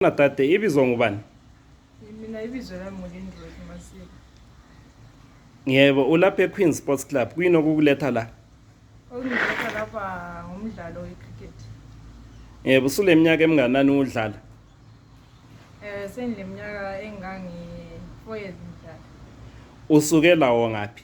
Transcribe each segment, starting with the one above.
Khona dade ibizwa ngubani? Mina ibizwa lami nguLindroy Masiko. Yebo, ulapha eQueen Sports Club. Kuyini okukuletha la? Okungiletha lapha ngumdlalo wecricket. Yebo, usuleminyaka eminganani udlala? Eh sengileminyaka engangi 4 years ngidlala. Usuke lawo ngaphi?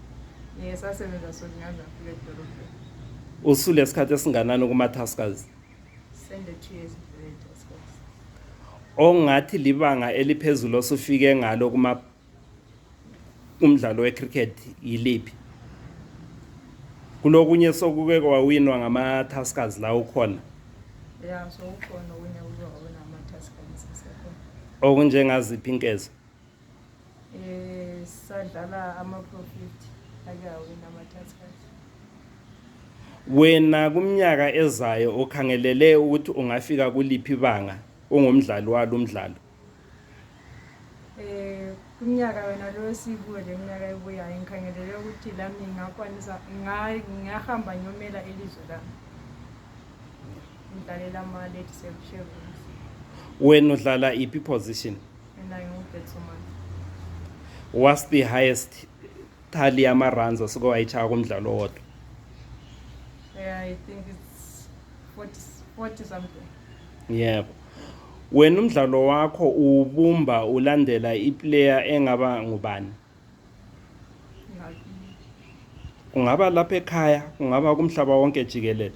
ngisasebenza so ngingaze ngifike edolobheni usule isikhathi esinganani kumathasikazi sende-two years ongathi libanga eliphezulu osufike ngalo kuma umdlalo wecricket yiliphi kulokunye sokuke kwawinwa ngama-taskers la ukhona ya so ukhona okunye okunjengaziphi inkezo Eh sadlala ama profit ake awina ama taskers. Wena kumnyaka ezayo ukhangelele ukuthi ungafika kuliphi banga ungumdlali walo umdlalo. Eh kumnyaka wena lo esikuwe leminyaka ebuyayo ngikhangelele ukuthi lami ngakwanisa ngahamba nyomela elizwe lami. Ngidlalela ama late seven. Wena udlala iphi position? And I hope it's so much. What's the highest tally yama-runs osuke wayitshaya kumdlalo owodwa Yeah, I think it's 40, 40 something. yebo wena umdlalo wakho uwubumba ulandela iplayer engaba ngubani Like, kungaba lapha ekhaya kungaba kumhlaba wonke jikelele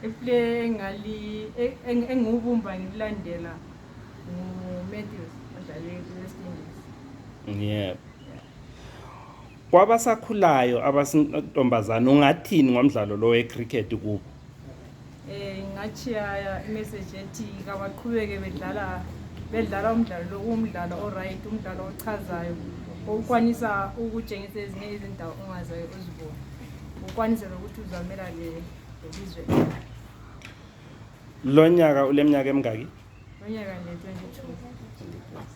iplay ah. engali engiwubumba ngikulandela ngumatthews odlale i-west indies yeah kwabasakhulayo abasintombazana ungathini ngomdlalo lo wecricket kubo eh ngachiya message ethi kabaqhubeke bedlala bedlala umdlalo lo umdlalo oright umdlalo ochazayo ukwanisa ukutshengisa ezinye izindawo ongazayo uzibona ukwanisa nokuthi uzamela le lelizwe lonyaka uleminyaka emingaki lonyaka nje 22